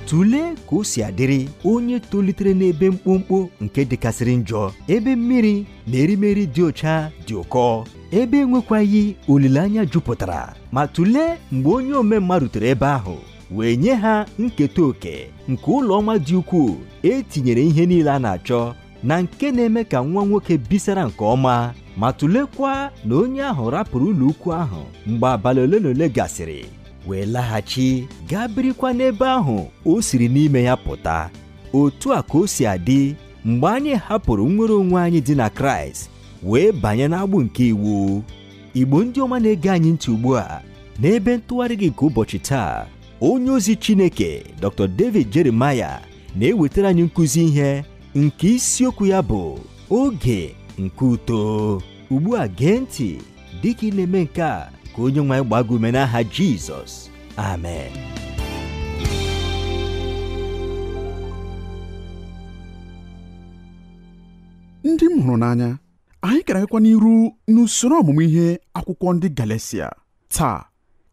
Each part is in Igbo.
tụlee ka o si adịrị onye tolitere n'ebe mkpọmkpọ nke dịkasịrị njọ ebe mmiri na erimeri dị ọcha dị ụkọ ebe enwekwaghị olileanya jupụtara ma tụlee mgbe onye omemma rutere ebe ahụ wee nye ha nketa oke nke ụlọ ọma dị ukwuu e tinyere ihe niile a na-achọ na nke na-eme ka nwa nwoke bisara nke ọma ma tụlekwa na onye ahụ rapụrụ ụlọ ukwu ahụ mgbe abalị ole na ole gasịrị wee laghachi gaa birikwa n'ebe ahụ o siri n'ime ya pụta otu a ka o si adị mgbe anyị hapụrụ nnwere onwe anyị dị na kraịst wee banye n'agbụ nke iwu igbo ndị ọma na-ege anyị ntị ugbu a n'ebe ntụgharị gị nke ụbọchị taa onye ozi chineke dr david jeremiah na-ewetara anyị nkụzi ihe nke isiokwu ya bụ oge nke uto ugbu a gee ntị dịka ị na-eme nke a ka onye nwe anyị gbaa gị ume n'aha Jizọs amen ndị m hụrụ n'anya anyị gara agakwa n'iru n'usoro ọmụmụ ihe akwụkwọ ndị Galatia taa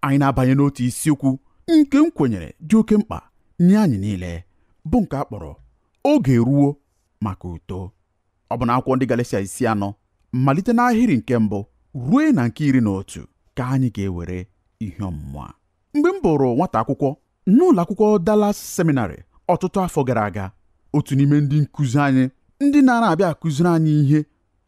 anyị na-abanye n'otu isiokwu nke m kwenyere dị oke mkpa nye anyị niile bụ nke a kpọrọ oge ruo maka uto ọ bụ n'akwụkwọ ndị Galatia isi anọ malite n'ahịrị nke mbụ ruo na nke iri na otu ka anyị ga-ewere ihe ọmụmụ a mgbe m bụrụ nwata akwụkwọ n'ụlọ akwụkwọ Dallas Seminary ọtụtụ afọ gara aga otu n'ime ndị nkụzi anyị ndị na-ara abịa akụziri anyị ihe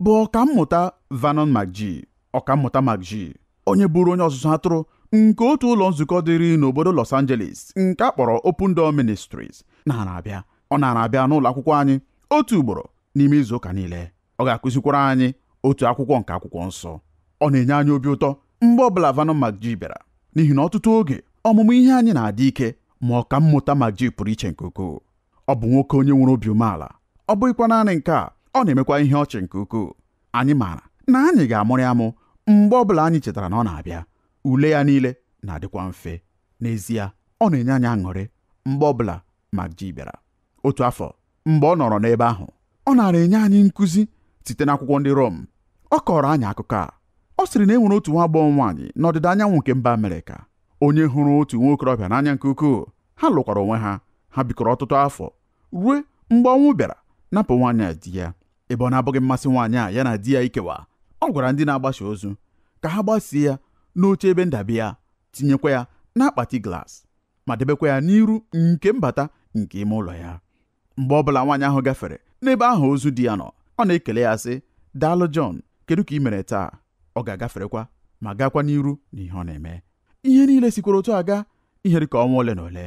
bụ ọkammụta Vernon McGee ọkammụta McGee onye bụrụ onye ọzụzụ atụrụ nke otu ụlọ nzukọ dịrị n'obodo Los Angeles nke a kpọrọ Open Door Ministries nara abịa ọ nara abịa n'ụlọ akwụkwọ anyị otu ugboro n'ime izu ụka niile ọ ga-akụzikwara anyị otu akwụkwọ nke akwụkwọ nsọ ọ na-enye anyị obi ụtọ mgbe ọbụla Vernon McGee bịara n'ihi na ọtụtụ oge ọmụmụ ihe anyị na-adị ike ma ọkammụta McGee pụrụ iche nke ukwuu ọ bụ nwoke onye nwere obi umeala ọ bụghịkwa naanị nke a ọ na-emekwa ihe ọchị nke ukwuu anyị maara na anyị ga-amụrị amụ mgbe ọ bụla anyị chetara na ọ na-abịa ule ya niile na-adịkwa mfe n'ezie ọ na-enye anyị aṅụrị mgbe ọ bụla McGee bịara otu afọ mgbe ọ nọrọ n'ebe ahụ ọ nara enye anyị nkụzi site n'akwụkwọ ndị Rom ọ kọọrọ anyị akụkọ a ọ sịrị na e nwere otu nwa agbọghọ nwaanyị n'ọdịda anyanwụ nke mba Amerịka onye hụrụ otu nwa okorobịa n'anya nke ukwuu ha lụkwara onwe ha ha bikọrọ ọtụtụ afọ ruo mgbe ọnwụ bịara napụ nwaanyị a di ya ebe ọ na-abụghị mmasị nwaanyị a ya na di ya ikewa ọ gwara ndị na-agbasi ozu ka ha gbasie ya n'oche ebe ndabi ya tinyekwa ya n'akpati glaasị ma debekwa ya n'iru nke mbata nke ime ụlọ ya mgbe ọ bụla nwaanyị ahụ gafere n'ebe ahụ ozu di ya nọ ọ na-ekele ya sị daalụ Jọn kedu ka i mere taa ọ ga-agaferekwa ma gaakwa n'iru na ihe ọ na-eme ihe niile sikwara otu a gaa ihe dị ka ọnwa ole na ole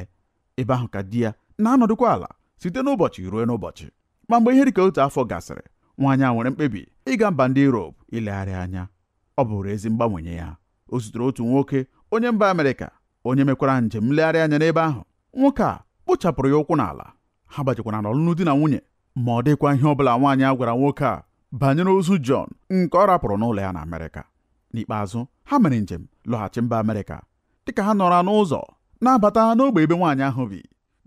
ebe ahụ ka di ya na-anọdụkwa ala site n'ụbọchị ruo n'ụbọchị ma mgbe ihe dị ka otu afọ gasịrị nwaanyị a nwere mkpebi ịga mba ndị Europe ilegharị anya ọ bụrụ ezi mgbanwe nye ya o zutere otu nwoke onye mba Amerịka onye mekwara njem nlegharị anya n'ebe ahụ nwoke a kpochapụrụ ya ụkwụ n'ala ha banyekwara n'ọlụlụ di na nwunye ma ọ dịghịkwa ihe ọbụla nwaanyị a gwara nwoke a banyere ozu John nke ọ rapụrụ n'ụlọ ya na Amerịka n'ikpeazụ ha mere njem lọghachi mba Amerịka dịka ha nọrọ n'ụzọ na-abata n'ogbe ebe nwaanyị ahụ bi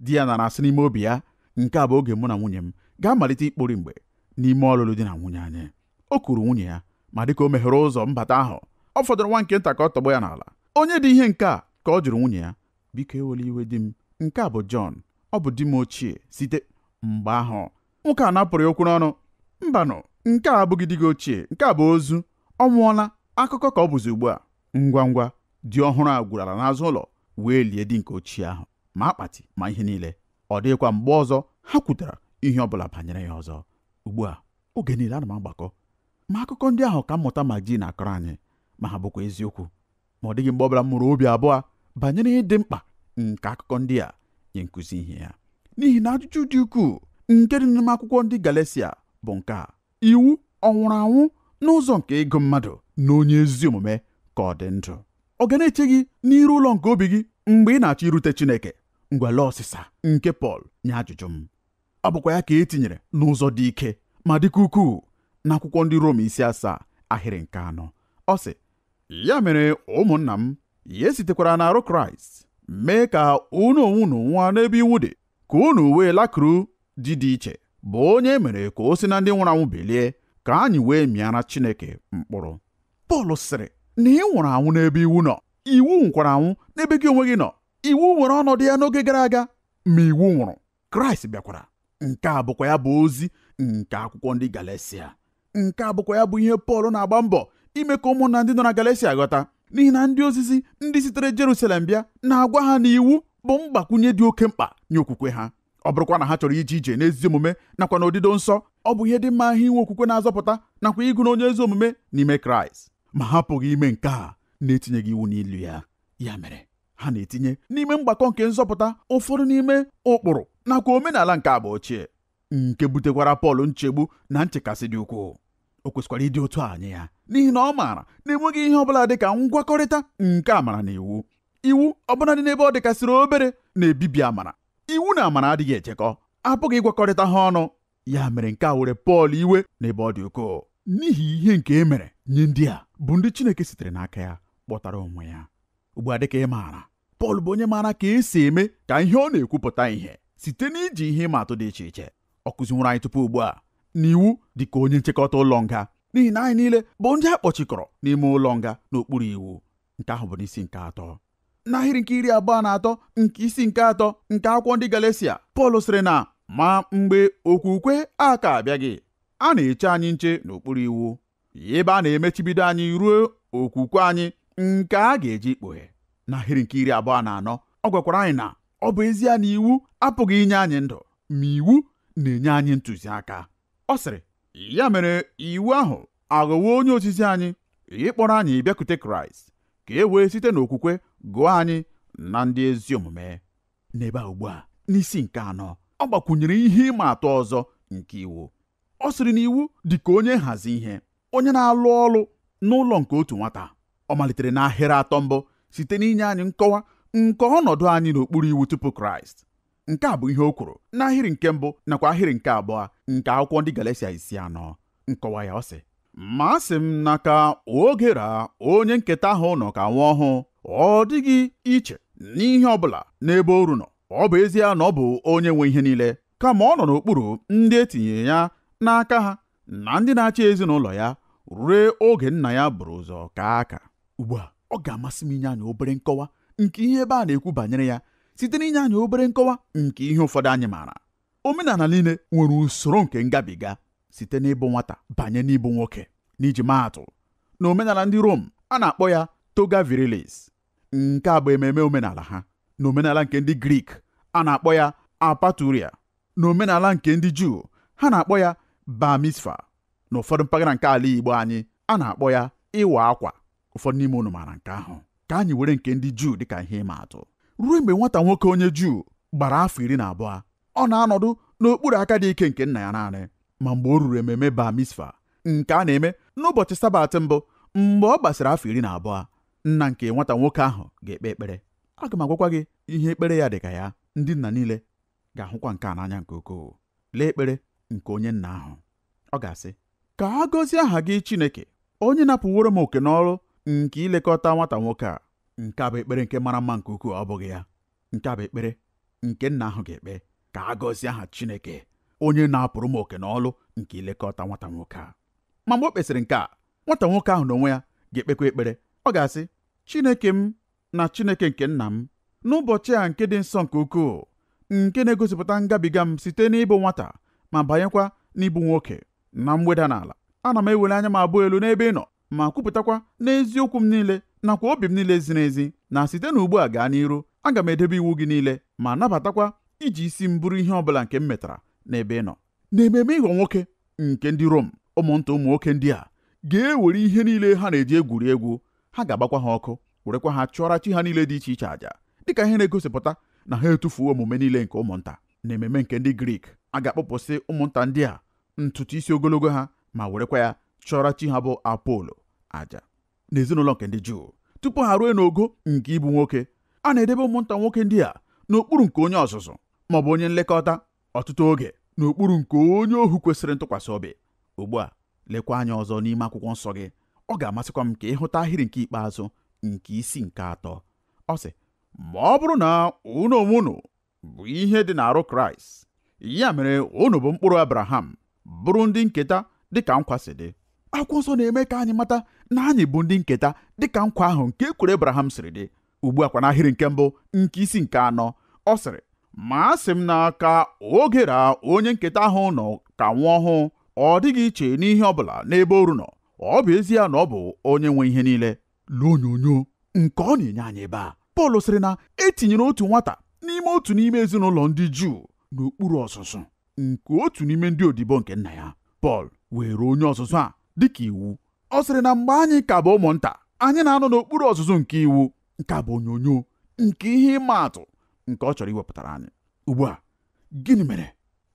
di ya nara asị n'ime obi ya nke a bụ oge mụ na nwunye m ga-amalite ikpori mgbe n'ime ọlụlụ di na nwunye anyị o kuru nwunye ya ma dịka o meghere ụzọ mbata ahụ ọ fọdụrụ nwa nke nta ka ọ tọgbọ ya n'ala onye dị ihe nke a ka ọ jụrụ nwunye ya biko ewela iwe di m nke a bụ Jọn ọ bụ di m ochie site mgbe ahụ nwoke a napụrụ ya okwu n'ọnụ mbanụ nke a abụghị di gị ochie nke a bụ ozu ọ nwụọla akụkọ ka ọ bụzi ugbu a ngwa ngwa di ọhụrụ a gwuru ala n'azụ ụlọ wee lie di nke ochie ahụ ma akpati ma ihe niile ọ dịghịkwa mgbe ọzọ ha kwutara ihe ọ bụla banyere ya ọzọ ugbu a oge niile ana m agbakọ ma akụkọ ndị ahụ ọkammụta McGee na-akọrọ anyị ma ha bụkwa eziokwu ma ọ dịghị mgbe ọbụla m mụrụ obi abụọ banyere ịdị mkpa nke akụkọ ndị a nye nkụzi ihe ya n'ihi na ajụjụ dị ukwuu nke dị n'ime akwụkwọ ndị Galesia bụ nke a iwu ọ nwụrụ anwụ n'ụzọ nke ịgụ mmadụ na onye ezi omume ka ọ dị ndụ ọ ga na-eche gị n'iru ụlọ nke obi gị mgbe ị na-achọ irute Chineke ngwa lee ọsịsa nke Pọl nye ajụjụ m ọ bụkwa ya ka e tinyere n'ụzọ dị ike ma dịkwa ukwuu n'akwụkwọ ndị Rom isi asaa ahịrị nke anọ ọ sị ya mere ụmụnna m ya esitekwara n'arụ Kraịst mee ka unu onwe unu nwụa n'ebe iwu dị ka unu wee lakuru di dị iche bụ onye e mere ka o si na ndị nwụrụ anwụ bilie ka anyị wee mịara Chineke mkpụrụ Pọl sịrị na ị nwụrụ anwụ n'ebe iwu nọ iwu nwụkwara anwụ n'ebe gị onwe gị nọ iwu nwere ọnọdụ ya n'oge gara aga ma iwu nwụrụ Kraịst bịakwara nke a bụkwa ya bụ ozi nke akwụkwọ ndị Galatia nke a bụkwa ya bụ ihe Pọl na-agba mbọ ime ka ụmụnna ndị nọ na Galatia ghọta n'ihi na ndị ozizi ndị sitere Jerusalem bịa na-agwa ha na iwu bụ mgbakwunye dị oke mkpa nye okwukwe ha ọ bụrụkwa na ha chọrọ ije ije n'ezi omume nakwa na odido nsọ ọ bụ ihe dị mma ha inwe okwukwe na-azọpụta nakwa ịgụ na onye ezi omume n'ime Kraịst ma ha apụghị ime nke a na-etinyeghị iwu n'elu ya ya mere ha na-etinye n'ime mgbakọ nke nzọpụta ụfọdụ n'ime ụkpụrụ nakwa omenala nke agba ochie nke butekwara Pọl nchegbu na nchekasị dị ukwuu o kwesịkwara ịdị otu a nye ya n'ihi na ọ maara na enweghị ihe ọ bụla dị ka ngwakọrịta nke amara na iwu iwu ọbụla dị n'ebe ọ dịkasịrị obere na-ebibi amara iwu na amara adịghị echekọ apụghị ịgwakọrịta ha ọnụ ya mere nke a were Pọl iwe n'ebe ọ dị ukwuu n'ihi ihe nke e mere nye ndị a bụ ndị Chineke sitere n'aka ya kpọtara onwe ya ugbu a dịka ị maara Pọl bụ onye maara ka esi eme ka ihe ọ na-ekwu pụta ihe site n'iji ihe ịma atụ dị iche iche ọ kụziworo anyị tupu ugbu a na iwu dị ka onye nchekọta ụlọ nga n'ihi na anyị niile bụ ndị a kpọchikọrọ n'ime ụlọ nga n'okpuru iwu nke ahụ bụ n'isi nke atọ n'ahịrị nke iri abụọ na atọ nke isi nke atọ nke akwụkwọ ndị Galatia Pọl sịrị na ma mgbe okwukwe a ka abịaghị a na-eche anyị nche n'okpuru iwu ebe a na-emechibido anyị ruo okwukwe anyị nke a gaje ikpughe n'ahịrị nke iri abụọ na anọ ọ gwakwara anyị na ọ bụ ezie na iwu apụghị inye anyị ndụ ma iwu na-enye anyị ntụziaka ọ sịrị ya mere iwu ahụ aghọwo onye ozizi anyị ịkpọrọ anyị bịakute kraịst ka e wee site n'okwukwe gụọ anyị na ndị ezi omume n'ebe a ugbu a n'isi nke anọ ọ gbakwunyere ihe ịma atụ ọzọ nke iwu ọ sịrị na iwu dị ka onye nhazi ihe onye na-alụ ọrụ n'ụlọ nke otu nwata ọ malitere n'ahịrị atọ mbụ site n'inye anyị nkọwa nke ọnọdụ anyị n'okpuru iwu tupu kraịst nke a bụ ihe o kwuru n'ahịrị nke mbụ nakwa ahịrị nke abụọ nke akwụkwọ ndị Galatia isi anọ nkọwa ya ọ sị ma asị m na ka oge ra onye nketa ahụ nọ ka nwa ọhụụ ọ dịghị iche n'ihe ọ bụla n'ebe oru nọ ọ bụ ezie na ọ bụ onye nwe ihe niile kama ọ nọ n'okpuru ndị e tinyere ya n'aka ha na ndị na-achị ezinụlọ ya ruo oge nna ya buru ụzọ ka aka ugbu a ọ ga-amasị m inye anyị obere nkọwa nke ihe ebe a na-ekwu banyere ya site n'inye anyị obere nkọwa nke ihe ụfọdụ anyị maara omenala niile nwere usoro nke ngabiga site n'ịbụ nwata banye n'ịbụ nwoke n'iji maa atụ na omenala ndị Rom a na-akpọ ya toga virilis nke a bụ ememe omenala ha na omenala nke ndị Grik a na-akpọ ya apaturia na omenala nke ndị Juu ha na-akpọ ya bar mitzvah na ụfọdụ mpaghara nke ala Igbo anyị a na-akpọ ya ịwa akwa ụfọdụ n'ime unu maara nke ahụ ka anyị were nke ndị Juu dịka ihe ịma atụ ruo mgbe nwata nwoke onye Juu gbara afọ iri na abụọ ọ na-anọdụ n'okpuru aka dị ike nke nna ya naanị ma mgbe o ruru ememe bar mitzvah nke a na-eme n'ụbọchị sabat mbụ mgbe ọ gbasịrị afọ iri na abụọ nna nke nwata nwoke ahụ ga-ekpe ekpere aga m agwakwa gị ihe ekpere ya dị ka ya ndị nna niile ga-ahụkwa nke a n'anya nke ukwuu lee ekpere nke onye nna ahụ ọ ga-asị ka a gọzie aha gị Chineke onye napụworo m oke n'ọrụ nke ilekọta nwata nwoke a nke a bụ ekpere nke mara mma nke ukwuu ọ bụghị ya nke a bụ ekpere nke nna ahụ ga-ekpe ka a gọzie aha Chineke onye napụrụ m oke n'ọlụ nke ilekọta nwata nwoke a ma mgbe o kpesịrị nke a nwata nwoke ahụ n'onwe ya ga-ekpekwa ekpere ọ ga-asị Chineke m na Chineke nke nna m n'ụbọchị a nke dị nsọ nke ukwuu nke na-egosipụta ngabiga m site n'ịbụ nwata ma banyekwa n'ịbụ nwoke na mweda n'ala ana m eweli anya m abụọ elu n'ebe ị nọ ma kwupụtakwa n'eziokwu m niile nakwa obi m niile ziri ezi na site n'ugbu a gaa n'iru aga m edebe iwu gị niile ma nabatakwa iji isi m buru ihe ọ bụla nke m metara n'ebe ị nọ n'ememe ịghọ nwoke nke ndị Rom ụmụnta ụmụ nwoke ndị a ga-ewere ihe niile ha na-eji egwuri egwu ha ga-agbakwa ha ọkụ werekwa ha chụọra chi ha niile dị iche iche àjà dịka ihe na-egosipụta na ha etufuo omume niile nke ụmụnta n'ememe nke ndị Grik a ga-akpụpụsị ụmụnta ndị a ntutu isi ogologo ha ma werekwa ya chụọra chi ha bụ Apolo àjà n'ezinụlọ nke ndị Juu tupu ha ruo n'ogo nke ịbụ nwoke a na-edebe ụmụnta nwoke ndị a n'okpuru nke onye ọzụzụ maọbụ onye nlekọta ọtụtụ oge n'okpuru nke onye ohu kwesịrị ntụkwasị obi ugbu a lekwa anya ọzọ n'ime akwụkwọ nsọ gị ọ ga-amasịkwa m ka ị hụta ahịrị nke ikpeazụ nke isi nke atọ ọ sị ma ọ bụrụ na unu onwe unu bụ ihe dị n'arụ kraịst ya mere unu bụ mkpụrụ abraham bụrụ ndị nketa dịka nkwa si dị akwụkwọ nsọ na-eme ka anyị mata na anyị bụ ndị nketa dịka nkwa ahụ nke e kwere abraham siri dị ugbu a kwa n'ahịrị nke mbụ nke isi nke anọ ọ sịrị ma asị m na ka oge ra onye nketa ahụ nọ ka nwa ọhụụ ọ dịghị iche n'ihe ọ bụla n'ebe oru nọ ọ bụ ezie na ọ bụ onye nwe ihe niile lee onyonyo nke ọ na-enye anyị ebe a Pọl sịrị na e tinyere otu nwata n'ime otu n'ime ezinụlọ ndị Juu n'okpuru ọzụzụ nke otu n'ime ndị odibo nke nna ya Pọl weere onye ọzụzụ a dịka iwu ọ sịrị na mgbe anyị ka bụ ụmụnta anyị na-anọ n'okpuru ọzụzụ nke iwu nke a bụ onyonyo nke ihe ịma atụ nke ọ chọrọ iwepụtara anyị ugbu a gịnị mere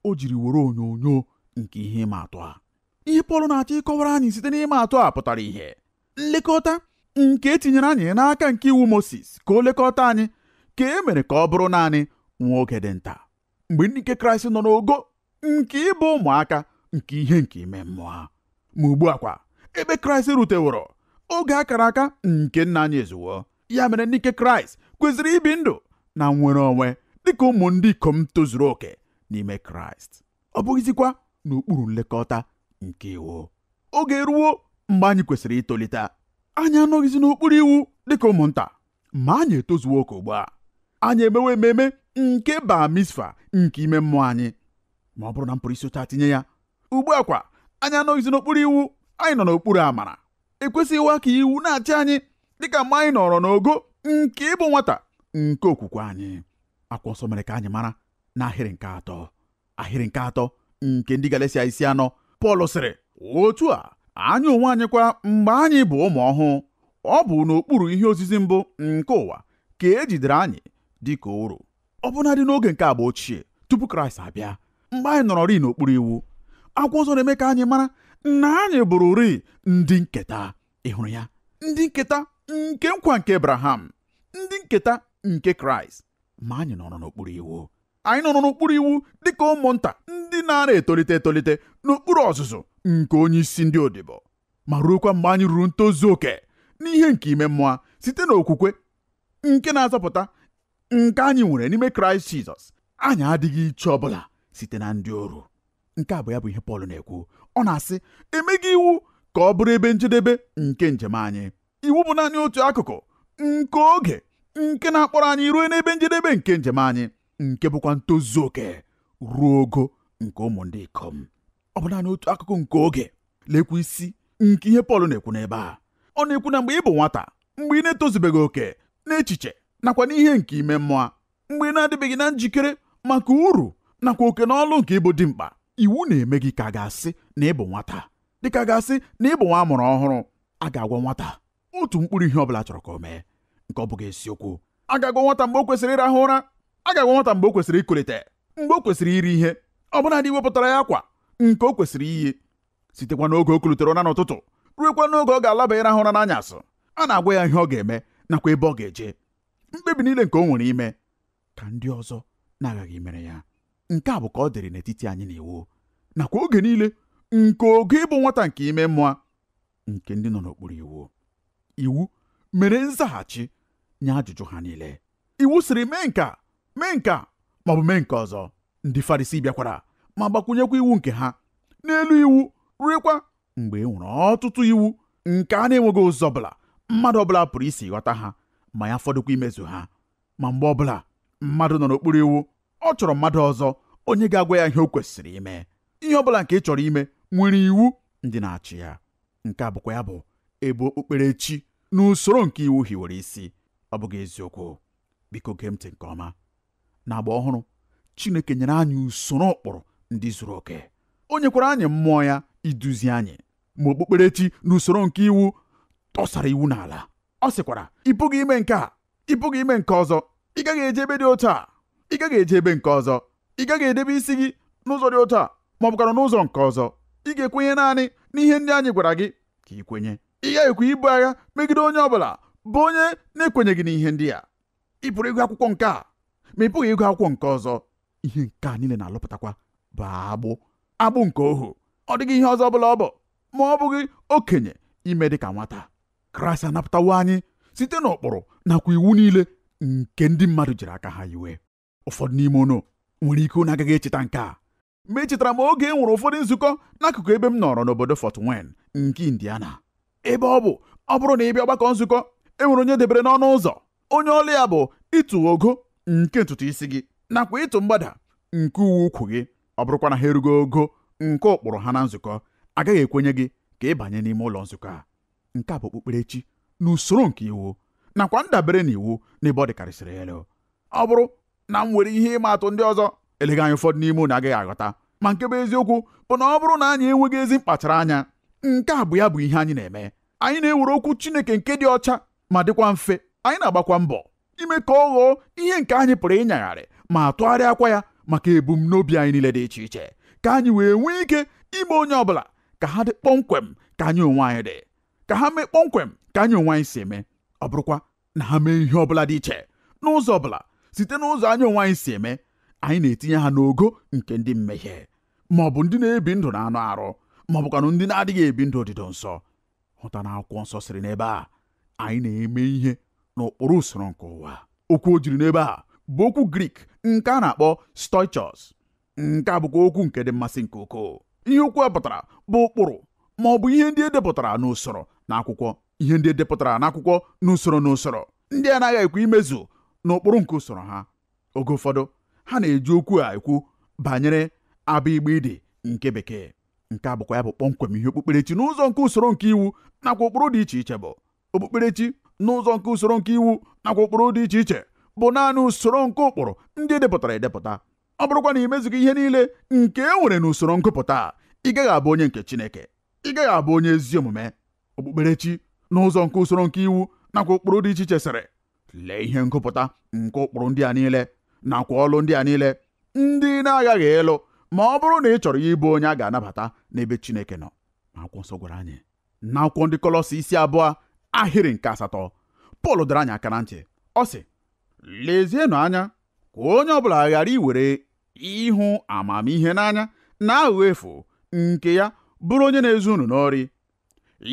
o jiri were onyonyo nke ihe ịma atụ a ihe Pọl na-achọ ịkọwara anyị site n'ịma atụ a pụtara ihe nlekọta nke e tinyere anyị n'aka nke iwu Mosis ka o lekọta anyị ka e mere ka ọ bụrụ naanị nwa oge dị nta mgbe ndị nke kraịst nọ n'ogo nke ịbụ ụmụaka nke ihe nke ime mmụọ ma ugbu a kwa ebe kraịst ruteworo oge a kara aka nke nna anyị ezuwo ya mere ndị nke kraịst kwesịrị ibi ndụ na nnwere onwe dịka ụmụ ndị ikom tozuru oke n'ime kraịst ọ bụghịzikwa n'okpuru nlekọta nke iwu oge eruwo mgbe anyị kwesịrị itolite anyị anọghịzi n'okpuru iwu dịka ụmụnta ma anyị etozuo oke ugbu a anyị emewe ememe nke bar mitzvah nke ime mmụọ anyị ma ọ bụrụ na m pụrụ isi otu a tinye ya ugbu a kwa anyị anọghịzi n'okpuru iwu anyị nọ n'okpuru amara ekwesịghịwa ka iwu na-achị anyị dịka mgbe anyị nọrọ n'ogo nke ịbụ nwata nke okwukwe anyị akwụkwọ nsọ mere ka anyị mara n'ahịrị nke atọ ahịrị nke atọ nke ndị Galatia isi anọ Pọl sịrị otu a anyị onwe anyị kwa mgbe anyị bụ ụmụ ọhụụ ọ bụ n'okpuru ihe ozizi mbụ nke ụwa ka e jidere anyị dị ka oru ọbụnadị n'oge nke agba ochie tupu Kraịst abịa mgbe anyị nọrọrị n'okpuru iwu akwụkwọ nsọ na-eme ka anyị mara na anyị bụrụrị ndị nketa ị hụrụ ya ndị nketa nke nkwa nke Abraham ndị nketa nke Kraịst ma anyị nọrọ n'okpuru iwu anyị nọrọ n'okpuru iwu dịka ụmụnta ndị na-ara etolite etolite n'okpuru ọzụzụ nke onye isi ndị odibo ma ruokwa mgbe anyị ruru ntozu oke n'ihe nke ime mmụọ site n'okwukwe nke na-azọpụta nke anyị nwere n'ime kraịst jizọs anyị adịghị iche ọbụla site na ndị oru nke a bụ ya bụ ihe pọl na-ekwu ọ na-asị e meghị iwu ka ọ bụrụ ebe njedebe nke njem anyị iwu bụ naanị otu akụkụ nke oge nke na-akpọrọ anyị ruo n'ebe njedebe nke njem anyị nke bụkwa ntozu oke ruo ogo nke ụmụ ndị ikom ọ bụ naanị otu akụkụ nke oge lekwa isi nke ihe Pọl na-ekwu n'ebe a ọ na-ekwu na mgbe ị bụ nwata mgbe ị na-etozubeghị oke n'echiche nakwa n'ihe nke ime mmụọ mgbe ị na-adịbeghị na njikere maka uru nakwa oke na ọlụ nke ịbụ dimkpa iwu na-eme gị ka a ga-asị na ị bụ nwata dịka a ga-asị na ị bụ nwa a mụrụ ọhụrụ a ga-agwa nwata otu mkpụrụ ihe ọ bụla a chọrọ ka o mee nke ọ bụghị eziokwu a ga-agwa nwata mgbe o kwesịrị ịrahụ ụra a ga-agwa nwata mgbe o kwesịrị ikulite mgbe o kwesịrị iri ihe ọbụnadị iwepụtara ya akwa nke o kwesịrị iyi sitekwa n'oge o kulitere ụra n'ụtụtụ ruekwa n'oge ọ ga-alaba ịrahụ ụra n'anyasị a na-agwa ya ihe ọ ga-eme nakwa ebe ọ ga-eje mkpebi niile nke o nwere ime ka ndị ọzọ na-aghaghị imere ya nke a bụ ka ọ dịrị n'etiti anyị na iwu nakwa oge niile nke oge ịbụ nwata nke ime mmụọ nke ndị nọ n'okpuru iwu iwu mere nzaghachi nye ajụjụ ha niile iwu sịrị mee nke a mee nke a maọbụ mee nke ọzọ ndị Farisi bịakwara ma gbakwunyekwa iwu nke ha n'elu iwu ruekwa mgbe e nwere ọtụtụ iwu nke a na-enweghị ụzọ ọbụla mmadụ ọbụla pụrụ isi ghọta ha ma ya fọdụkwa imezu ha ma mgbe ọbụla mmadụ nọ n'okpuru iwu ọ chọrọ mmadụ ọzọ onye ga-agwa ya ihe o kwesịrị ime ihe ọbụla nke ị chọrọ ime nwere iwu ndị na-achị ya nke a bụkwa ya bụ ebe okpukperechi n'usoro nke iwu hiwere isi ọ bụghị eziokwu biko gee ntị nke ọma n'agba ọhụrụ chineke nyere anyị usoro ụkpụrụ ndị zuru oke o nyekwara anyị mmụọ ya iduzi anyị ma okpukperechi n'usoro nke iwu tọsara iwu n'ala ọ sịkwara ị pụghị ime nke a ị pụghị ime nke ọzọ ị gaghị eje ebe dị otu a ị gaghị eje ebe nke ọzọ ị gaghị edebe isi gị n'ụzọ dị otu a ma ọ bụkwara n'ụzọ nke ọzọ ị ga-ekwenye naanị n'ihe ndị anyị gwara gị ka ị kwenye ị ghaghịkwa ibu agha megide onye ọ bụla bụ onye na-ekwenyeghị n'ihe ndị a ị pụrụ ịgụ akwụkwọ nke a ma ị pụghị ịgụ akwụkwọ nke ọzọ ihe nke a niile na-alụpụtakwa bụ agbụ agbụ nke ohu ọ dịghị ihe ọzọ ọ bụla ọ bụ ma ọ bụghị okenye ime dị ka nwata kraịst anapụtawo anyị site n'ụkpụrụ nakwa iwu niile nke ndị mmadụ jiri aka ha hiwe ụfọdụ n'ime unu nwere ike unu agaghị echeta nke a ma echetara m oge e nwere ụfọdụ nzukọ n'akụkụ ebe m nọrọ n'obodo Fort Wayne nke Indiana ebe ọ bụ ọ bụrụ na ị bịa ọgbakọ nzukọ e nwere onye e debere n'ọnụ ụzọ onye ọlụ ya bụ ịtụ ogo nke ntutu isi gị nakwa ịtụ mgbada nke uwe ukwu gị ọ bụrụkwa na ha erughị ogo nke ụkpụrụ ha na nzukọ agaghị ekwenye gị ka ị banye n'ime ụlọ nzukọ a nke a bụ okpukperechi n'usoro nke iwu nakwa ndabere n'iwu n'ebe ọ dịkarịsịrị elu ọ bụrụ na m were ihe ịma atụ ndị ọzọ eleghị anya ụfọdụ n'ime unu agaghị aghọta ma nke bụ eziokwu bụ na ọ bụrụ na anyị enweghị ezi mkpachara anya nke a bụ ya bụ ihe anyị na-eme anyị na-ewere okwu Chineke nke dị ọcha ma dịkwa mfe anyị na-agbakwa mbọ ime ka ọ ghọọ ihe nke anyị pụrụ ịnyagharị ma tụgharịakwa ya maka ebumnobi anyị niile dị iche iche ka anyị wee nwee ike ime onye ọbụla ka ha dị kpọmkwem ka anyị onwe anyị dị ka ha mee kpọmkwem ka anyị onwe anyị si eme ọ bụrụkwa na ha mee ihe ọ bụla dị iche n'ụzọ ọ bụla site n'ụzọ anyị onwe anyị si eme anyị na-etinye ha n'ogo nke ndị mmehie ma ọ bụ ndị na-ebi ndụ n'anụ arụ ma ọ bụkwanụ ndị na-adịghị ebi ndụ odido nsọ hụta na akwụkwọ nsọ sịrị n'ebe a anyị na-eme ihe n'ụkpụrụ usoro nke ụwa okwu o jiri n'ebe a bụ okwu grik nke a na-akpọ stoichos nke a bụkwa okwu nke dị mmasị nke ukwuu ihe okwu a pụtara bụ ụkpụrụ ma ọ bụ ihe ndị e depụtara n'usoro n'akwụkwọ ihe ndị e depụtara n'akwụkwọ n'usoro n'usoro ndị anaghị ekwe imezu n'ụkpụrụ nke usoro ha oge ụfọdụ ha na-eji okwu a ekwu banyere a bị gbị dị nke bekee nke a bụkwa ya bụ kpọmkwem ihe okpukperechi n'ụzọ nke usoro nke iwu nakwa ụkpụrụ dị iche iche bụ okpukperechi n'ụzọ nke usoro nke iwu nakwa ụkpụrụ dị iche iche bụ naanị usoro nke ụkpụrụ ndị e depụtara edepụta ọ bụrụkwa na i mezughị ihe niile nke e nwere n'usoro ngụpụta ị gaghị abụ onye nke Chineke ị gaghị abụ onye ezi omume okpukperechi n'ụzọ nke usoro nke iwu nakwa ụkpụrụ dị iche iche sịrị lee ihe ngụpụta nke ụkpụrụ ndị a niile nakwa ọlụ ndị a niile ndị ị na-aghaghị ịlụ ma ọ bụrụ na ị chọrọ ya ịbụ onye a ga-anabata n'ebe Chineke nọ akwụkwọ nsọ gwara anyị n'akwụkwọ ndị kọlọsị isi abụọ ahịrị nke asatọ Pọl dọrọ anyị aka na ntị ọ sị lezienụ anya ka onye ọ bụla ghara iwere ịhụ amamihe n'anya na aghụghọ efu nke ya bụrụ onye na-ezu unu n'ori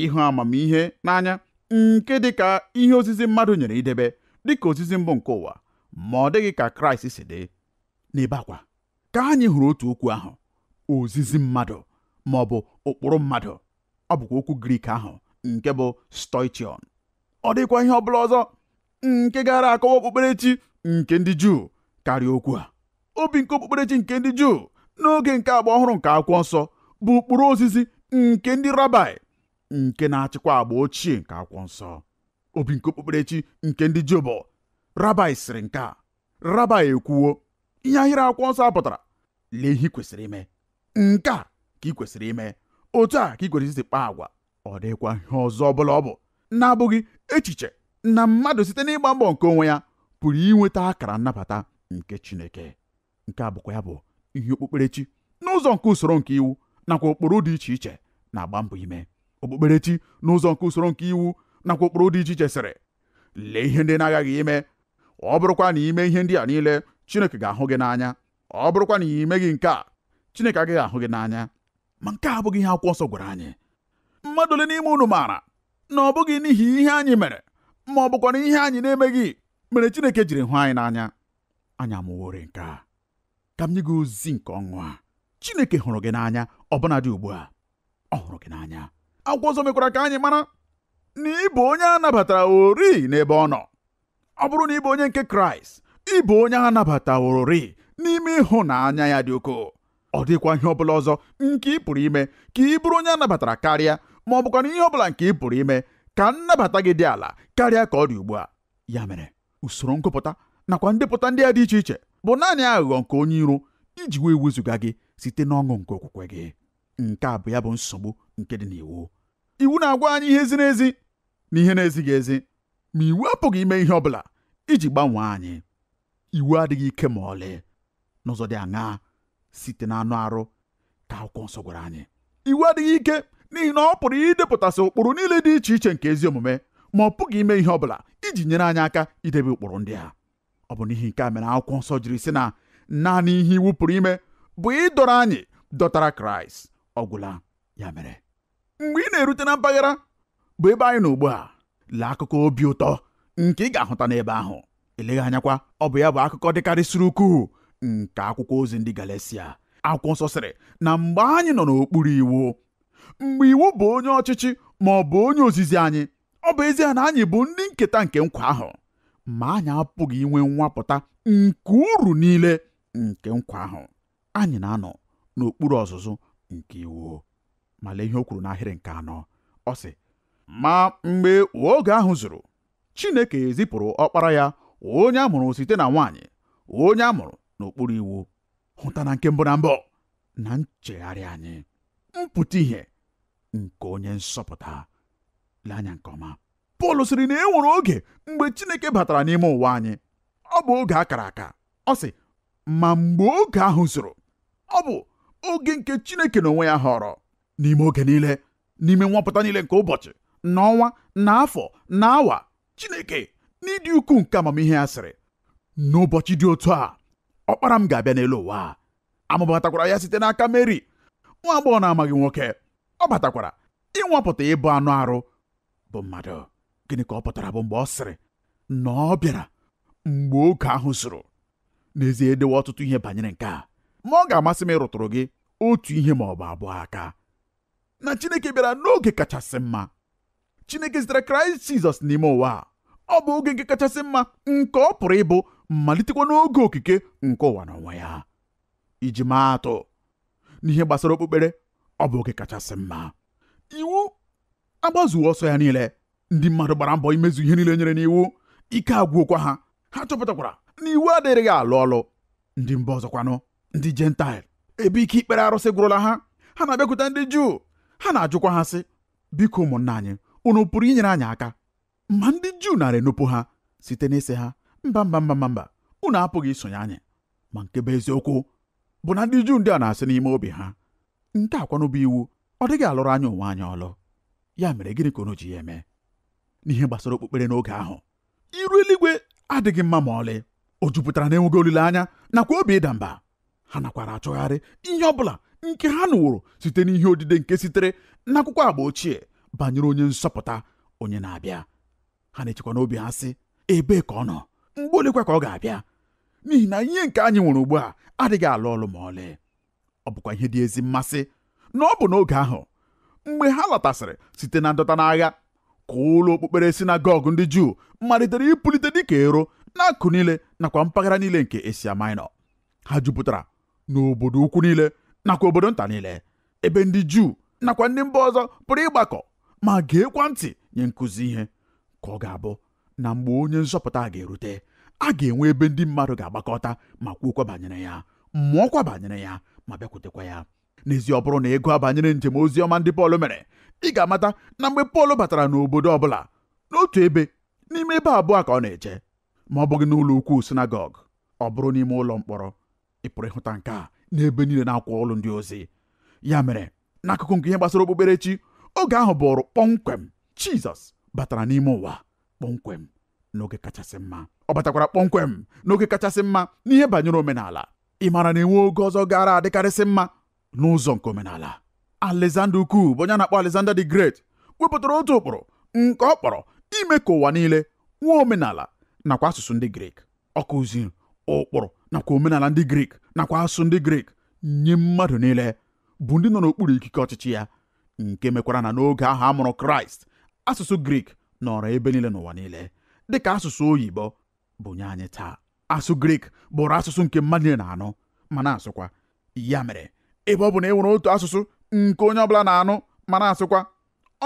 ịhụ amamihe n'anya nke dị ka ihe ozizi mmadụ nyere idebe dị ka ozizi mbụ nke ụwa ma ọ dịghị ka kraịst si dị n'ebe a kwa ka anyị hụrụ otu okwu ahụ ozizi mmadụ ma ọ bụ ụkpụrụ mmadụ ọ bụkwa okwu grik ahụ nke bụ stoichion ọ dịkwa ihe ọ bụla ọzọ nke gaara akọwa okpukperechi nke ndị Juu karịa okwu a obi nke okpukperechi nke ndị Juu n'oge nke agba ọhụrụ nke akwụkwọ nsọ bụ ụkpụrụ ozizi nke ndị rabai nke na-achịkwa agba ochie nke akwụkwọ nsọ obi nke okpukperechi nke ndị Juu bụ rabai sịrị nke a rabai ekwuwo ihe ahịrị akwụkwọ nsọ pụtara lee ihe ị kwesịrị ime nke a ka ị kwesịrị ime otu a ka ị kwesịrị isi kpaa agwa ọ dịghịkwa ihe ọzọ ọ bụla ọ bụ na-abụghị echiche na mmadụ site n'ịgba mbọ nke onwe ya pụrụ inweta akara nnabata nke Chineke nke a bụkwa ya bụ ihe okpukperechi n'ụzọ nke usoro nke iwu nakwa ụkpụrụ dị iche iche na-agba mbọ ime okpukperechi n'ụzọ nke usoro nke iwu nakwa ụkpụrụ dị iche iche sịrị lee ihe ndị ị na-aghaghị ime ọ bụrụkwa na i mee ihe ndị a niile Chineke ga-ahụ gị n'anya ọ bụrụkwanụ na ị meghị nke a Chineke agaghị ahụ gị n'anya ma nke a abụghị ihe akwụkwọ nsọ gwara anyị mmadụ ole n'ime unu maara na ọ bụghị n'ihi ihe anyị mere ma ọ bụkwanụ ihe anyị na-emeghị mere Chineke jiri hụ anyị n'anya anyị amụworị nke a ka m nye gị ozi nke ọṅụ a Chineke hụrụ gị n'anya ọbụnadị ugbu a ọ hụrụ gị n'anya akwụkwọ nsọ mekwara ka anyị mara na ị bụ onye a nabatawororị n'ebe ọ nọ ọ bụrụ na ị bụ onye nke kraịst ị bụ onye a nabatawororị n'ime ịhụnanya ya dị ukwuu ọ dịkwa ihe ọbụla ọzọ nke ị pụrụ ime ka ị bụrụ onye a nabatara karịa ma ọ bụkwanụ ihe ọbụla nke ị pụrụ ime ka nnabata gị dị ala karịa ka ọ dị ugbu a ya mere usoro ngụpụta nakwa ndepụta ndị a dị iche iche bụ naanị aghụghọ nke onye iro iji wee wezụga gị site n'ọṅụ nke okwukwe gị nke a bụ ya bụ nsogbu nke dị n'iwu iwu na-agwa anyị ihe ziri ezi n'ihe na-ezighị ezi ma iwu apụghị ime ihe ọ bụla iji gbanwee anyị iwu adịghị ike ma ọlị n'ụzọ dị aṅaa site n'anụ arụ ka akwụkwọ nsọ gwara anyị iwu adịghị ike n'ihi na ọ pụrụ idepụtasị ụkpụrụ niile dị iche iche nke ezi omume ma ọ pụghị ime ihe ọ bụla iji nyere anyị aka idebe ụkpụrụ ndị a ọ bụ n'ihi nke a mere akwụkwọ nsọ jiri sị na naanị ihe iwu pụrụ ime bụ ịdọrọ anyị dọtara kraịst ọ gwụla ya mere mgbe ị na-erute na mpaghara bụ ebe anyị nọ ugbu a lee akụkọ obi ụtọ nke ị ga-ahụta n'ebe ahụ eleghị anyakwa ọ bụ ya bụ akụkọ dịkarịsịrị ukwuu nke akwụkwọ ozi ndị Galatia akwụkwọ nsọ sịrị na mgbe anyị nọ n'okpuru iwu mgbe iwu bụ onye ọchịchị ma ọ bụ onye ozizi anyị ọ bụ ezie na anyị bụ ndị nketa nke nkwa ahụ ma anyị apụghị inwe nwapụta nke uru niile nke nkwa ahụ anyị na-anọ n'okpuru ọzụzụ nke iwu ma lee ihe o kwuru n'ahịrị nke anọ ọ sị ma mgbe oge ahụ zuru Chineke ezipụrụ ọkpara ya onye a mụrụ site na nwaanyị onye a mụrụ n'okpuru iwu hụta na nke mbụ na mbụ na nchegharị anyị mpụta ihe nke onye nzọpụta lee anya nke ọma Pọl sịrị na e nwere oge mgbe Chineke batara n'ime ụwa anyị ọ bụ oge a kara aka ọ sị ma mgbe oge ahụ zuru ọ bụ oge nke Chineke n'onwe ya họrọ n'ime oge niile n'ime nwapụta niile nke ụbọchị na ọnwa na afọ na awa Chineke n'ịdị ukwuu nke amamihe ya sịrị n'ụbọchị dị otu a ọkpara m ga-abịa n'elu ụwa a mụbatakwara ya site n'aka Meri nwa agbọghọ na-amaghị nwoke ọ batakwara ịnwapụta ịbụ anụ arụ bụ mmadụ gịnị ka ọ pụtara bụ mgbe ọ sịrị na ọ bịara mgbe oge ahụ zuru n'ezie e dewo ọtụtụ ihe banyere nke a ma ọ ga-amasị m ịrụtụrụ gị otu ihe ma ọ bụ abụọ aka na Chineke bịara n'oge kachasị mma Chineke zitere Kraịst Jizọs n'ime ụwa ọ bụ oge nke kachasị mma nke ọ pụrụ ịbụ malitekwa n'oge okike nke ụwa n'onwe ya iji maa atụ n'ihe gbasara okpukpere ọ bụ oge kachasị mma iwu agbazuwo ọsọ ya niile ndị mmadụ gbara mbọ imezu ihe niile e nyere n'iwu ike agwụkwa ha ha chọpụtakwara na iwu adịrịghị alụ ọlụ ndị mba ọzọkwanụ ndị jentaịl ebe ike ikpere arụsị gwụrụla ha ha na-abịakwute ndị juu ha na-ajụkwa ha sị biko ụmụnna anyị unu pụrụ inyere anyị aka ma ndị juu nara enupụ ha site n'ịsị ha mba mba mba mba mba unu apụghị isonye anyị ma nke bụ eziokwu bụ na ndị juu ndị a na-asị n'ime obi ha nke a kwanụ bụ iwu ọ dịghị alụrụ anyị onwe anyị ọlụ ya mere gịnị ka unu ji ya eme n'ihe gbasara okpukpere n'oge ahụ iru eluigwe adịghị mma ma ọlị o jupụtara n'enweghị olileanya nakwa obi ịda mba ha nakwara achọgharị ihe ọ bụla nke ha nụworo site n'ihe odide nke sitere n'akwụkwọ agba ochie banyere onye nzọpụta onye na-abịa ha na-echekwa n'obi ha sị ebee ka ọ nọ mgbe olekwa ka ọ ga-abịa n'ihi na ihe nke anyị nwere ugbu a adịghị alụ ọlụ ma ọlị ọ bụkwa ihe dị ezi mmasị na ọ bụ n'oge ahụ mgbe ha lọtasịrị site na ndọta n'agha ka ụlọ okpukpere sinagọg ndị Juu malitere ịpụlite dịka ero n'akụkụ niile nakwa mpaghara niile nke Asia Minor ha jupụtara n'obodo ukwu niile nakwa obodo nta niile ebe ndị Juu nakwa ndị mba ọzọ pụrụ ịgbakọ ma geekwa ntị nye nkụzi ihe ka ọ ga-abụ na mgbe onye nzọpụta a ga-erute a ga-enwe ebe ndị mmadụ ga-agbakọta ma kwuokwa banyere ya mụọkwa banyere ya ma bịakwutekwa ya n'ezie ọ bụrụ na ị gụọ banyere njem ozi ọma ndị Pọl mere ị ga-amata na mgbe Pọl batara n'obodo ọbụla n'otu ebe n'ime ebe abụọ ka ọ na-eje ma ọ bụghị n'ụlọ ukwu sinagọg ọ bụrụ n'ime ụlọ mkpọrọ ị pụrụ ịhụta nke a n'ebe niile n'akwụkwọ ọlụ ndị ozi ya mere n'akụkụ nke ihe gbasara okpukperechi oge ahụ bụrụ kpọmkwem Jizọs batara n'ime ụwa kpọmkwem n'oge kachasị mma ọ batakwara kpọmkwem n'oge kachasị mma n'ihe banyere omenala ị maara na enwe oge ọzọ gaara adịkarịsị mma n'ụzọ nke omenala Alexander Ukwu bụ onye a na-akpọ Alexander the Great wepụtara otu ụkpụrụ nke ọ kpọrọ ime ka ụwa niile nwee omenala nakwa asụsụ ndị Grik ọ kụziri ụkpụrụ nakwa omenala ndị Grik nakwa asụsụ ndị Grik nye mmadụ niile bụ ndị nọ n'okpuru ikike ọchịchị ya nke mekwara na n'oge ahụ a mụrụ Kraịst asụsụ Grik nọrọ ebe niile n'ụwa niile dịka asụsụ oyibo bụ nye anyị taa asụsụ Grik bụrụ asụsụ nke mmadụ niile na-anụ ma na-asụkwa ya mere ebe ọ bụ na e nwere otu asụsụ nke onye ọbụla na-anụ ma na-asụkwa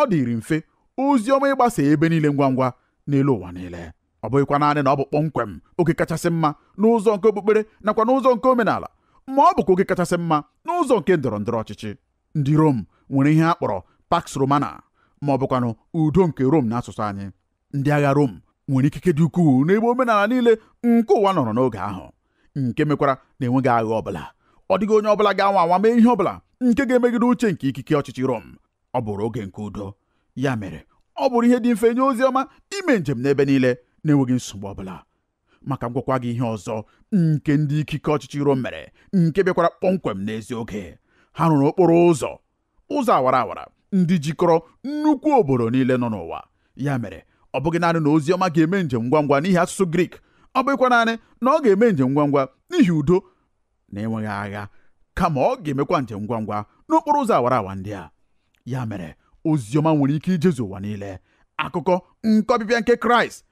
ọ dịrị mfe ozi ọma ịgbasa ebe niile ngwa ngwa n'elu ụwa niile ọ bụghịkwa naanị na ọ bụ kpọmkwem oge kachasị mma n'ụzọ nke okpukpere nakwa n'ụzọ nke omenala ma ọ bụkwa oge kachasị mma n'ụzọ nke ndọrọ ndọrọ ọchịchị ndị Rom nwere ihe a kpọrọ Pax Romana ma ọ bụkwanụ udo nke Rom n'asụsụ anyị ndị agha Rom nwere ikike dị ukwuu n'ebe omenala niile nke ụwa nọrọ n'oge ahụ nke mekwara na enweghị agha ọbụla ọ dịghị onye ọbụla ga-anwa anwa mee ihe ọbụla nke ga-emegide uche nke ikike ọchịchị Rom ọ bụrụ oge nke udo ya mere ọ bụrụ ihe dị mfe nye ozi ọma ime njem n'ebe niile na-enweghị nsogbu ọbụla ma ka m gwakwa gị ihe ọzọ nke ndị ikike ọchịchị rom mere nke bịakwara kpọmkwem n'ezi oge ha rụrụ okporo ụzọ ụzọ awara awara ndị jikọrọ nnukwu obodo niile nọ n'ụwa ya mere ọ bụghị naanị na ozi ọma ga-eme njem ngwa ngwa n'ihi asụsụ grik ọ bụghịkwa naanị na ọ ga-eme njem ngwa ngwa n'ihi udo na enweghị agha kama ọ ga-emekwa njem ngwa ngwa n'okporo ụzọ awara awa ndị a ya mere ozi ọma nwere ike ijezu ụwa niile akụkọ nke ọbịbịa nke kraịst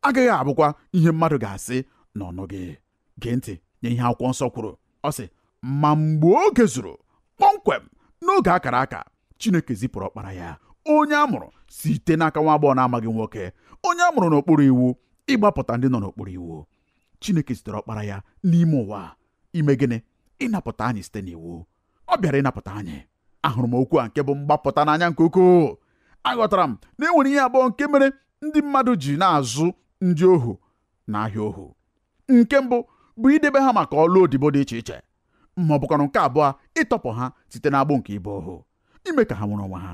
agaghị abụkwa ihe mmadụ ga-asị na ọ nụghị gee ntị nye ihe akwụkwọ nsọ kwuru ọ sị ma mgbe oge zuru kpọmkwem n'oge a kara aka Chineke zipụrụ ọkpara ya onye a mụrụ site n'aka nwa agbọghọ na-amaghị nwoke onye a mụrụ n'okpuru iwu ịgbapụta ndị nọ n'okpuru iwu Chineke zitere ọkpara ya n'ime ụwa ime gịnị ịnapụta anyị site n'iwu ọ bịara ịnapụta anyị ahụrụ m okwu a nke bụ mgbapụta n'anya nke ukwuu aghọtara m na e nwere ihe abụọ nke mere ndị mmadụ ji na-azụ ndị ohu n'ahịa ohu nke mbụ bụ idebe ha maka ọlụ odibo dị iche iche ma ọ bụkwanụ nke abụọ ịtọpụ ha site n'agbụ nke ịbụ ohu ime ka ha nwere onwe ha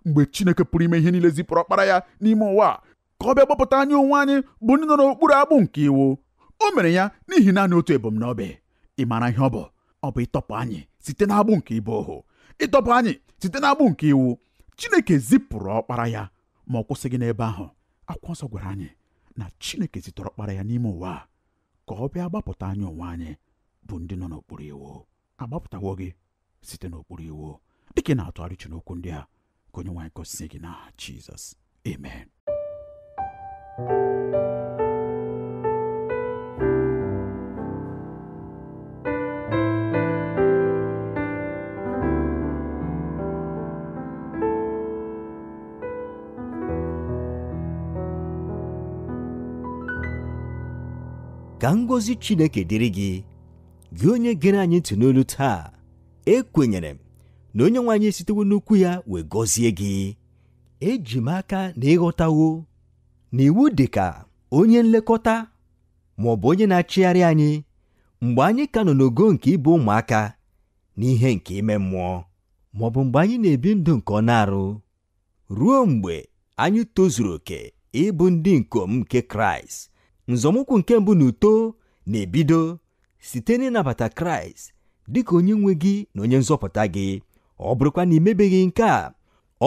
mgbe Chineke pụrụ ime ihe niile zipụrụ ọkpara ya n'ime ụwa ka ọ bịa gbapụta anyị onwe anyị bụ ndị nọ n'okpuru agbụ nke iwu o mere ya n'ihi naanị otu ebumnobi ị maara ihe ọ bụ ọ bụ ịtọpụ anyị site n'agbụ nke ịbụ ohu ịtọpụ anyị site n'agbụ nke iwu Chineke zipụrụ ọkpara ya ma ọ kwụsịghị n'ebe ahụ akwụkwọ nsọ gwara anyị na Chineke zitere ọkpara ya n'ime ụwa ka ọ bịa gbapụta anyị onwe anyị bụ ndị nọ n'okpuru iwu agbapụtawo gị site n'okpuru iwu dịka ị na-atụgharị uche n'okwu ndị a ka onye nwe anyị gọzie gị n'aha Jizọs amen ka ngọzi Chineke dịrị gị gị onye gere anyị ntị n'olu taa ekwenyere m na onye nwe anyị esitewo n'okwu ya wee gọzie gị eji m aka na ị ghọtawo na iwu dị ka onye nlekọta ma ọ bụ onye na-achịgharị anyị mgbe anyị ka nọ n'ogo nke ịbụ ụmụaka n'ihe nke ime mmụọ ma ọ bụ mgbe anyị na-ebi ndụ nke anụ arụ Ruo mgbe anyị tozuru oke ịbụ ndị ikom nke Kraịst, nzọmụkwụ nke mbụ n'uto na-ebido site n'ịnabata Kraịst dị ka onye nwe gị na onye nzọpụta gị. Ọ bụrụkwa na i mebeghị nke a,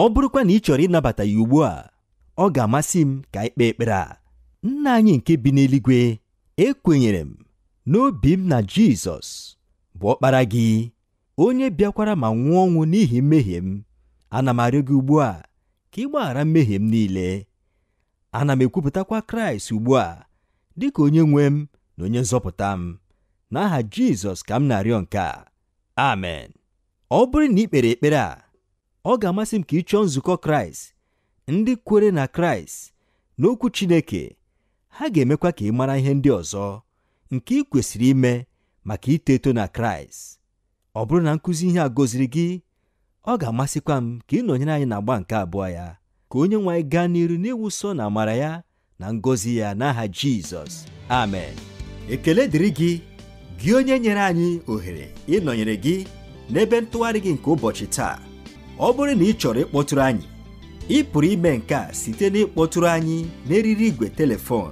ọ bụrụkwa na ị chọrọ ịnabata ya ugbu a, ọ ga-amasị m ka anyị kpee ekpere a. Nna anyị nke bi n'eluigwe, ekwenyere m n'obi m na Jizọs bụ ọkpara gị onye bịakwara ma nwụọ ọnwụ n'ihi mmehie m ana m arịọ gị ugbu a ka ị gbaghara mmehie m niile ana m ekwupụtakwa kraịst ugbu a dị ka onye nwe m na onye nzọpụta m n'aha jizọs ka m na-arịọ nke a amen ọ bụrụ na i kpere ekpere a ọ ga-amasị m ka ị chọọ nzukọ kraịst ndị kwere na kraịst n'okwu chineke ha ga-emekwa ka ị mara ihe ndị ọzọ nke i kwesịrị ime maka ito eto na kraịst ọ bụrụ na nkụzi ihe a gọziri gị ọ ga-amasịkwa m ka ị nọnyere anyị n'agba nke abụọ ya ka onye nwe anyị gaa n'iru n'ịwụsọ na amara ya na ngọzi ya n'aha jizọs amen ekele dịrị gị gị onye nyere anyị ohere ịnọnyere gị n'ebe ntụgharị gị nke ụbọchị taa ọ bụrụ na ị chọrọ ịkpọtụrụ anyị ị pụrụ ime nke a site n'ịkpọtụrụ anyị n'eriri igwe telefon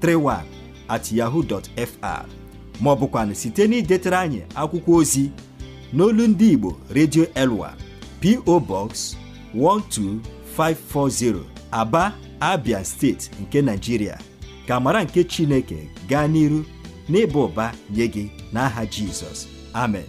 31 at yahoo dot fr ma ọ bụkwanụ site n'idetara anyị akwụkwọ ozi n'olu ndị Igbo Radio Elwa PO Box 12540 Aba Abia steeti nke Nigeria ka amara nke Chineke gaa n'iru n'ịba ụba nye gị n'aha Jizọs amen